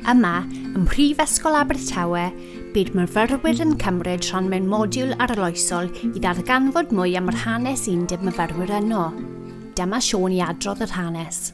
Yma, ym Mhrifysgol Abertawe, bydd myfyrwyr yn cymryd rhan mewn modiwl arloesol i ddarganfod mwy am yr hanes undeb myfyrwyr yno. Dyma Siôn i adrodd yr hanes.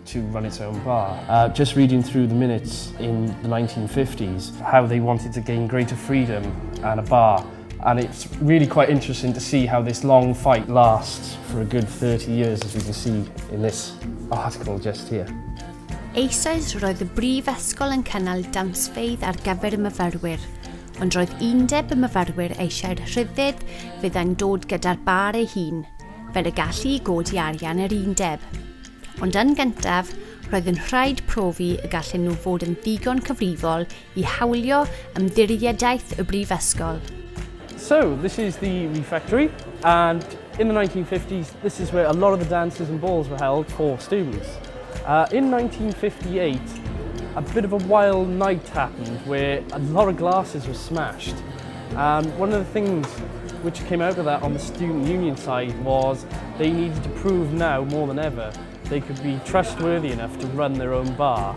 to run its own bar. Uh, just reading through the minutes in the 1950s, how they wanted to gain greater freedom and a bar. And it's really quite interesting to see how this long fight lasts for a good 30 years, as we can see in this article just here. Eisoes roedd y brifysgol yn cynnal damsfeidd ar gyfer y myfyrwyr, ond roedd undeb y myfyrwyr eisiau'r rhyddid fydda'n dod gyda'r bar ei hun, fel y gallu i godi arian yr undeb. Ond yn gyntaf, roedd yn rhaid profi y gallen nhw fod yn ddigon cyfrifol i hawlio ymddiriedaeth y brifysgol. So, this is the refectory, and in the 1950s, this is where a lot of the dances and balls were held for students. Uh, in 1958, a bit of a wild night happened where a lot of glasses were smashed. And one of the things which came out of that on the student union side was they needed to prove now more than ever they could be trustworthy enough to run their own bar.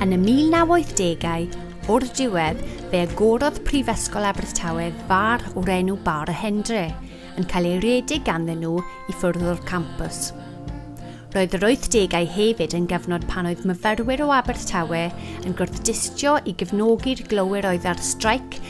Yn y 1980au, o'r diwedd, fe agorodd Prifysgol Abertawe far o'r enw Bar y Hendre, yn cael ei redeg ganddyn nhw i ffwrdd o'r campus. Roedd yr 80au hefyd yn gyfnod pan oedd myfyrwyr o Abertawe yn gwrthdistio i gefnogi'r glowyr oedd ar straic